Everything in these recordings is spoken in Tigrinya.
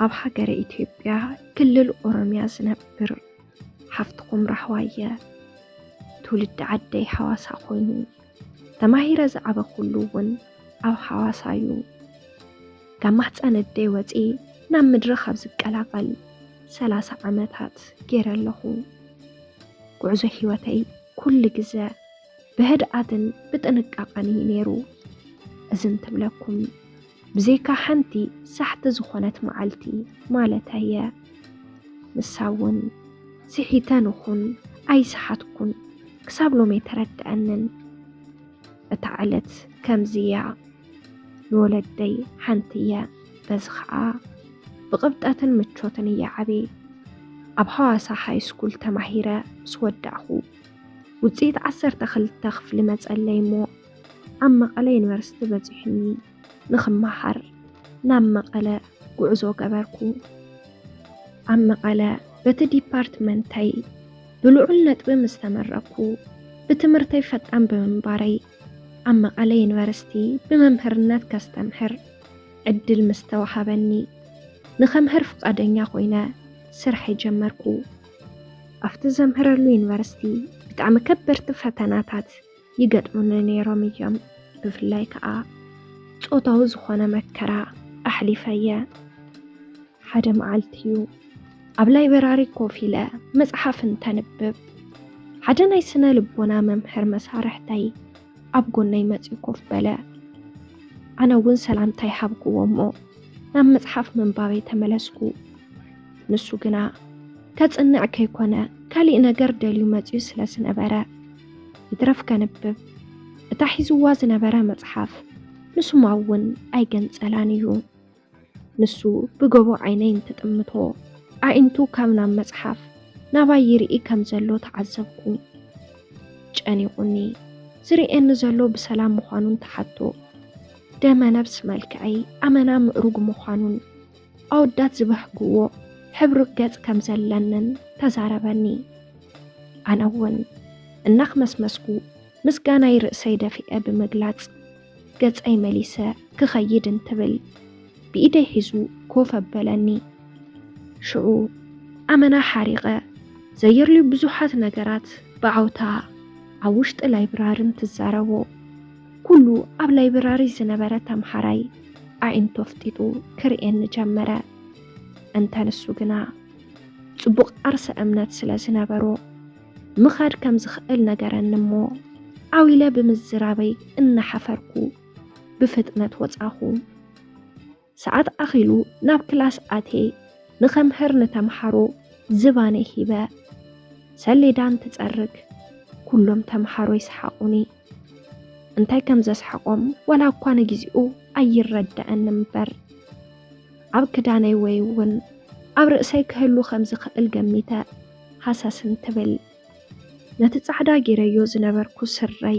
ኣብ ሃገረ ኢትዮጵያ ክልል ኦሮምያ ዝነብር ሓፍትኹም ራህዋ እየ። ትውልዲ ዓደይ ሓዋሳ ኮይኑ ተማሂረ ዝዓበኹሉ እውን ኣብ ሓዋሳ እዩ። ካብ ማሕፀን ኣደይ ወፂ ናብ ምድሪ ካብ ዝቀላቐል ሰላሳ ዓመታት ገይረ ኣለኹ። ጉዕዞ ህይወተይ ኩሉ ግዘ ብህድኣትን ብጥንቃቐን እዩ ነይሩ። እዚ እንትብለኩም ብዘይካ ሓንቲ ሳሕቲ ዝኾነት መዓልቲ ማለት ኣየ ንሳ እውን ስሒተ ንኹን ኣይሰሓትኩን ክሳብ ሎም የተረድአንን እታ ዕለት ከምዚ እያ ንወለደይ ሓንቲ እየ በዚ ከዓ ብቕብጠትን ምቾትን እየ ዓብየ ኣብ ሃዋሳ ሃይስኩል ተማሂረ ምስ ወዳእኹ ውፅኢት ዓሰርተ ክልተ ክፍሊ መፀለይ እሞ ኣብ መቐለ ዩኒቨርሲቲ በፂሑኒ ንኽመሃር ናብ መቐለ ጉዕዞ ገበርኩ። ኣብ መቐለ በቲ ዲፓርትመንተይ ብልዑል ነጥቢ ምስ ተመረኩ ብትምህርተይ ፈጣን ብምንባረይ ኣብ መቐለ ዩኒቨርሲቲ ብመምህርነት ከስተምህር ዕድል ምስ ተዋሃበኒ ንኸምህር ፍቓደኛ ኮይነ ስርሐይ ጀመርኩ። ኣብቲ ዘምህረሉ ዩኒቨርሲቲ ብጣዕሚ ከበድቲ ፈተናታት ይገጥሙኒ ነይሮም እዮም። ብፍላይ ከዓ ፆታዊ ዝኾነ መከራ ኣሕሊፈ እየ። ሓደ መዓልቲ እዩ ኣብ ላይበራሪ ኮፍ ኢለ መፅሓፍ እንተንብብ ሓደ ናይ ስነ ልቦና መምህር መሳርሕተይ ኣብ ጎነይ መፅኡ ኮፍ በለ። ኣነ እውን ሰላምታ ይሃብክዎ እሞ ናብ መጽሓፍ ምንባበይ ተመለስኩ። ንሱ ግና ከጽንዕ ከይኮነ ካሊእ ነገር ደልዩ መጽዩ ስለ ዝነበረ ይትረፍ ከንብብ እታ ሒዝዋ ዝነበረ መጽሓፍ ንስማ እውን ኣይገንጸላን እዩ። ንሱ ብገቦ ዓይነይ እንትጥምቶ ኣዒንቱ ካብ ናብ መጽሓፍ ናባይ ይርኢ ከም ዘሎ ተዓዘብኩ። ጨኒቑኒ ዝርእየኒ ዘሎ ብሰላም ምዃኑን ተሓቶ ደመ ነብስ መልክዐይ ኣመና ምእሩግ ምዃኑን ኣወዳት ዝበሕግዎ ሕብሪ ገጽ ከም ዘለንን ተዛረበኒ። ኣነ እውን እናኽመስመስኩ ምስጋናይ ርእሰይ ደፊኤ ብምግላጽ ገጸይ መሊሰ ክኸይድ እንትብል ብኢደይ ሒዙ ኮፍ ኣበለኒ። ሽዑ ኣመና ሓሪቐ ዘየርልዩ ብዙሓት ነገራት ብዓውታ ኣብ ውሽጢ ላይብራሪ እንትዛረቦ ኩሉ ኣብ ላይብራሪ ዝነበረ ተምሃራይ ኣዒንቶ ኣፍጢጡ ክርእየኒ ጀመረ። እንተ ንሱ ግና ጽቡቕ ዓርሰ እምነት ስለ ዝነበሮ ምኻድ ከም ዝኽእል ነገረኒ እሞ ዓው ኢለ ብምዝራበይ እናሓፈርኩ ብፍጥነት ወጻኹ። ሰዓት ኣኺሉ ናብ ክላስ ኣትየ ንኸምህር ንተምሓሮ ዝባነይ ሂበ ሰሌዳን ትጸርግ ኩሎም ተምሓሮ ይስሓቑኒ እንታይ ከም ዘስሓቖም ዋላ እኳ ንግዚኡ ኣይረዳእን እምበር ኣብ ክዳነይ ወይ እውን ኣብ ርእሰይ ክህሉ ከም ዝኽእል ገሚተ ሃሰስ እንትብል ነቲ ጻዕዳ ጌረዮ ዝነበርኩ ስረይ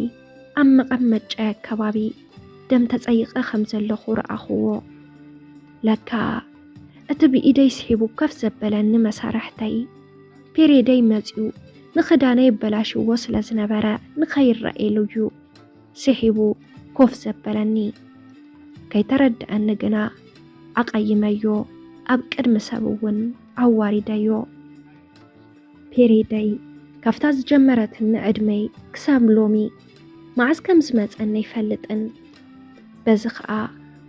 ኣብ መቐመጫይ ኣከባቢ ደም ተጸይቐ ከም ዘለኹ ረኣኹዎ። ለካ እቲ ብኢደይ ስሒቡ ከፍ ዘበለኒ መሳርሕተይ ፔሬደይ መጺኡ ንክዳነይ ኣበላሽዎ ስለ ዝነበረ ንኸይረኣ ኢሉ እዩ ስሒቡ ኮፍ ዘበለኒ። ከይተረድኣኒ ግና ኣቐይመዮ፣ ኣብ ቅድሚ ሰብ እውን ኣዋሪደዮ። ፔሬደይ ካብታ ዝጀመረትኒ ዕድመይ ክሳብ ሎሚ መዓዝ ከም ዝመጸኒ ኣይፈልጥን። በዚ ከኣ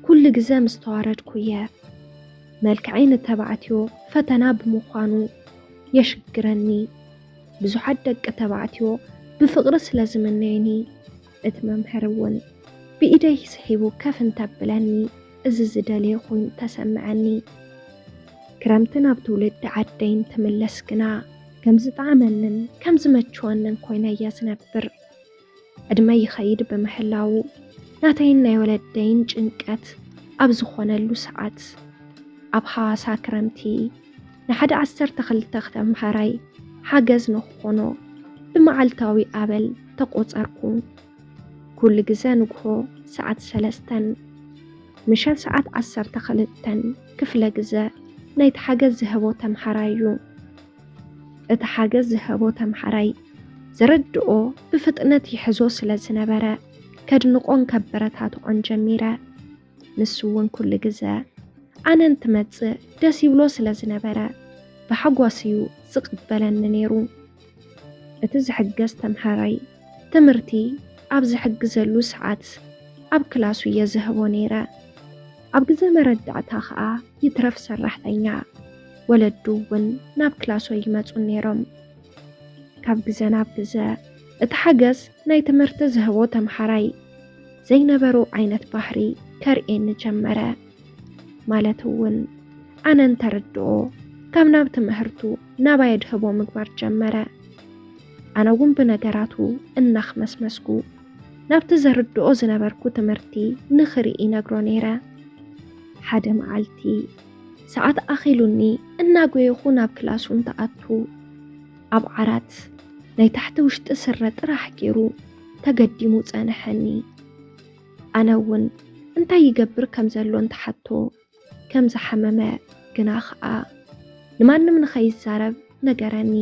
ኩሉ ግዘ ምስ ተዋረድኩ እየ። መልክዐይ ንተባዕትዮ ፈተና ብምዃኑ የሽግረኒ። ብዙሓት ደቂ ተባዕትዮ ብፍቕሪ ስለ ዝምነዩኒ። እቲ መምህር እውን ብኢደይ ስሒቡ ከፍ እንተብለኒ እዚ ዝደልዮ ኮይኑ ተሰመዐኒ። ክረምቲ ናብ ትውልዲ ዓደይ እንትምለስ ግና ከም ዝጠዓመንን ከም ዝመቸወንን ኮይነ እየ ዝነብር። ዕድመይ ይኸይድ ብምህላዉ ናተይን ናይ ወለደይን ጭንቀት ኣብ ዝኾነሉ ሰዓት ኣብ ሃዋሳ ክረምቲ ንሓደ ዓሰርተ ክልተ ተምሃራይ ሓገዝ ንክኾኖ ብመዓልታዊ ኣበል ተቆጸርኩ። ኩሉ ግዘ ንግሆ ሰዓት ሰለስተን ምሸት ሰዓት ዓሰርተ ክልተን ክፍለ ግዘ ናይቲ ሓገዝ ዝህቦ ተምሃራይ እዩ። እቲ ሓገዝ ዝህቦ ተምሃራይ ዝርድኦ ብፍጥነት ይሕዞ ስለ ዝነበረ ከድንቆን ከበረታትዖን ጀሚረ። ንሱ እውን ኩሉ ግዘ ኣነ እንትመፅእ ደስ ይብሎ ስለ ዝነበረ ብሓጓስ እዩ ዝቕበለኒ ነይሩ። እቲ ዝሕገዝ ተምሃራይ ትምህርቲ ኣብ ዝሕግዘሉ ሰዓት ኣብ ክላሱ እየ ዝህቦ ነይረ። ኣብ ግዘ መረዳእታ ከዓ ይትረፍ ሰራሕተኛ ወለዱ እውን ናብ ክላሶ ይመፁ ነይሮም። ካብ ግዘ ናብ ግዘ እቲ ሓገዝ ናይ ትምህርቲ ዝህቦ ተምሃራይ ዘይነበሮ ዓይነት ባህሪ ከርእየኒ ጀመረ። ማለት እውን ኣነ እንተርድኦ ካብ ናብ ትምህርቱ ናብ ኣየድህቦ ምግባር ጀመረ። ኣነ እውን ብነገራቱ እናኽመስመስኩ ናብቲ ዘርድኦ ዝነበርኩ ትምህርቲ ንኽርኢ ነግሮ ነይረ። ሓደ መዓልቲ ሰዓት ኣኺሉኒ እናጎየኹ ናብ ክላሱ እንትኣቱ ኣብ ዓራት ናይ ታሕቲ ውሽጢ ስረ ጥራሕ ገይሩ ተገዲሙ ጸነሐኒ። ኣነ እውን እንታይ ይገብር ከም ዘሎ እንትሓቶ ከም ዝሓመመ ግና ኸኣ ንማንም ንኸይዛረብ ነገረኒ።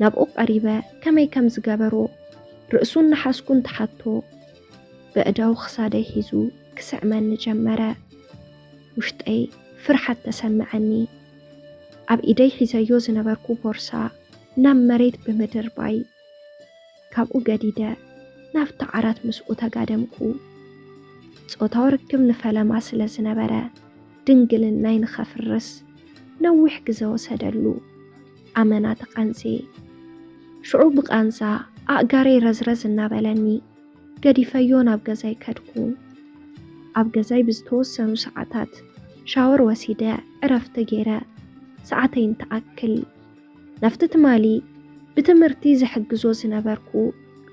ናብኡ ቀሪበ ከመይ ከም ዝገበሮ ርእሱ እናሓዝኩ እንትሓቶ በእዳው ክሳደይ ሒዙ ክስዕመኒ ጀመረ። ውሽጠይ ፍርሓት ተሰመዐኒ። ኣብ ኢደይ ሒዘዮ ዝነበርኩ ቦርሳ ናብ መሬት ብምድርባይ ካብኡ ገዲደ ናብቲ ዓራት ምስኡ ተጋደምኩ። ጾታዊ ርክብ ንፈለማ ስለ ዝነበረ ድንግልናይ ንኸፍርስ ነዊሕ ግዘ ወሰደሉ። ኣመና ተቓንሴ። ሽዑ ብቓንዛ ኣእጋረይ ረዝረዝ እናበለኒ ገዲፈዮ ናብ ገዛይ ከድኩ። ኣብ ገዛይ ብዝተወሰኑ ሰዓታት ሻወር ወሲደ ዕረፍቲ ገይረ ሰዓተይ እንትኣክል ናብቲ ትማሊ ብትምህርቲ ዝሕግዞ ዝነበርኩ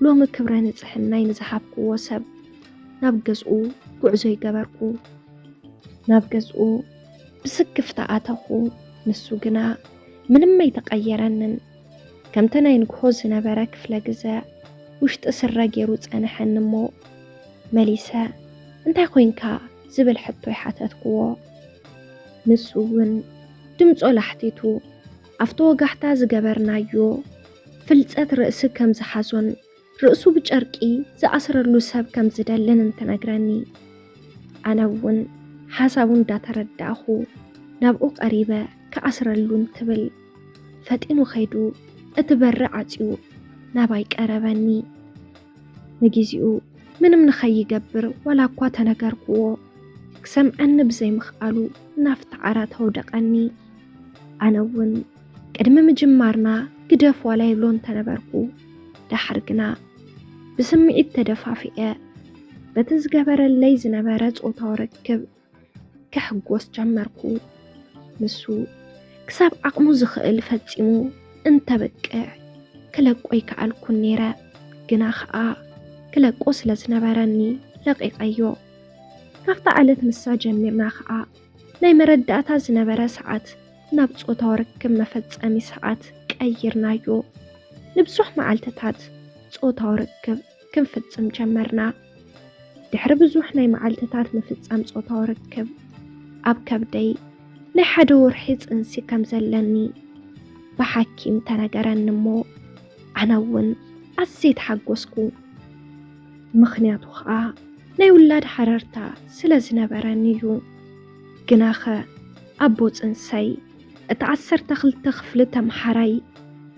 ሎሚ ክብረ ንጽሕናይ ንዝሃብክዎ ሰብ ናብ ገዝኡ ጉዕዞ ይገበርኩ። ናብ ገዝኡ ብስክፍታ ኣተኹ። ንሱ ግና ምንም ኣይተቐየረንን። ከምቲ ናይ ንግሆ ዝነበረ ክፍለ ግዘ ውሽጢ ስረ ገይሩ ጸንሐኒ እሞ መሊሰ እንታይ ኮንካ ዝብል ሕቶ ይሓተትክዎ። ንሱ እውን ድምጾ ላሕቲቱ ኣብቲ ወጋሕታ ዝገበርናዮ ፍልጸት ርእሲ ከም ዝሓዞን ርእሱ ብጨርቂ ዝኣስረሉ ሰብ ከም ዝደልን እንትነግረኒ ኣነ እውን ሓሳቡ እንዳተረዳእኹ ናብኡ ቀሪበ ክኣስረሉ እንትብል ፈጢኑ ከይዱ እቲ በሪ ዓጽዩ ናባይ ቀረበኒ። ንጊዜኡ ምንም ንኸይገብር ዋላ እኳ ተነገርኩዎ ክሰምዐኒ ብዘይምኽኣሉ ናብቲ ዓራት ኣውደቐኒ። ኣነ እውን ቅድሚ ምጅማርና ግደፍ ዋላ ይብሎ እንተነበርኩ ዳሓር ግና ብስምዒት ተደፋፊኤ በቲ ዝገበረለይ ዝነበረ ጾታዊ ርክብ ክሕጎስ ጀመርኩ። ንሱ ክሳብ ዓቕሙ ዝኽእል ፈጺሙ እንተብቅዕ ክለቆ ይከኣልኩን ነይረ ግና ኸኣ ክለቆ ስለ ዝነበረኒ ለቒቐዮ። ካብታ ዕለት ንሳ ጀሚርና ከኣ ናይ መረዳእታ ዝነበረ ሰዓት ናብ ጾታዊ ርክብ መፈጸሚ ሰዓት ቀይርናዮ። ንብዙሕ መዓልትታት ጾታዊ ርክብ ክንፍጽም ጀመርና። ድሕሪ ብዙሕ ናይ መዓልትታት ምፍጻም ጾታዊ ርክብ ኣብ ከብደይ ናይ ሓደ ወርሒ ጽንሲ ከም ዘለኒ ብሓኪም ተነገረኒ እሞ ኣነ እውን ኣዝየ ተሓጎስኩ። ምኽንያቱ ኸኣ ናይ ውላድ ሓረርታ ስለ ዝነበረኒ እዩ። ግናኸ ኣቦ ጽንሰይ፣ እቲ ዓሰርተ ክልተ ክፍሊ ተምሓራይ፣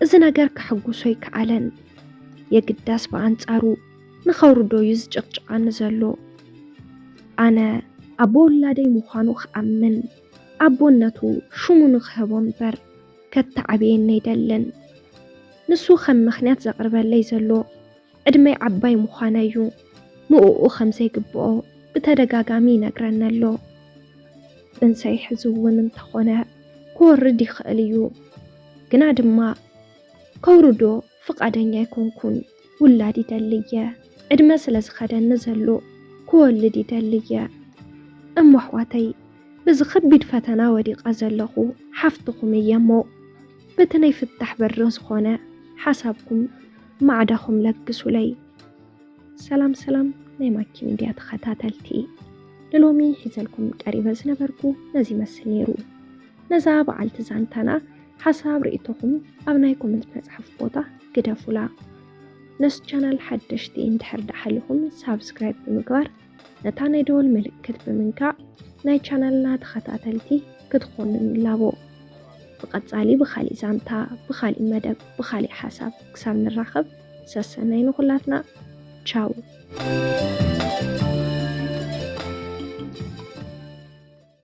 እዚ ነገር ከሐጉሶ ኣይከኣለን። የግዳስ ብኣንጻሩ ንኸውርዶ እዩ ዝጭቕጭቓኒ ዘሎ። ኣነ ኣቦ ውላደይ ምዃኑ ክኣምን፣ ኣቦነቱ ሽሙ ንኽህቦ እምበር ከተዓብየኒ ኣይደልን። ንሱ ከም ምኽንያት ዘቕርበለይ ዘሎ ዕድመይ ዓባይ ምዃነይ እዩ፣ ምኡኡ ከም ዘይግብኦ ብተደጋጋሚ ይነግረኒ ኣሎ። ጽንሰይ ሕዚ እውን እንተ ኾነ ክወርድ ይኽእል እዩ፣ ግና ድማ ከውርዶ ፍቓደኛ ኣይኮንኩን፣ ውላድ ይደሊ እየ፣ ዕድመ ስለ ዝኸደኒ ዘሎ ክወልድ ይደሊ እየ። እሞ ኣሕዋተይ በዚ ከቢድ ፈተና ወዲቐ ዘለኹ ሓፍትኹም እየ እሞ በቲ ናይ ፍታሕ በሪ ዝኾነ ሓሳብኩም ማዕዳኹም ለግሱለይ። ሰላም ሰላም ናይ ማኪ ሚድያ ተኸታተልቲ ንሎሚ ሒዘልኩም ቀሪበ ዝነበርኩ ነዚ ይመስል ነይሩ። ነዛ በዓልቲ ዛንታና ሓሳብ ርእይቶኹም ኣብ ናይ ኮመንት መፅሓፍ ቦታ ግደፉላ። ነስ ቻናል ሓደሽቲ እንድሕር ደኣ ሓሊኹም ሳብስክራይብ ብምግባር ነታ ናይ ደወል ምልክት ብምንካእ ናይ ቻናልና ተኸታተልቲ ክትኾኑ ንላቦ። ብቐጻሊ ብኻሊእ ዛንታ፣ ብኻሊእ መደብ፣ ብኻሊእ ሓሳብ ክሳብ ንራኸብ ሰሰናይ ንኹላትና። ቻው።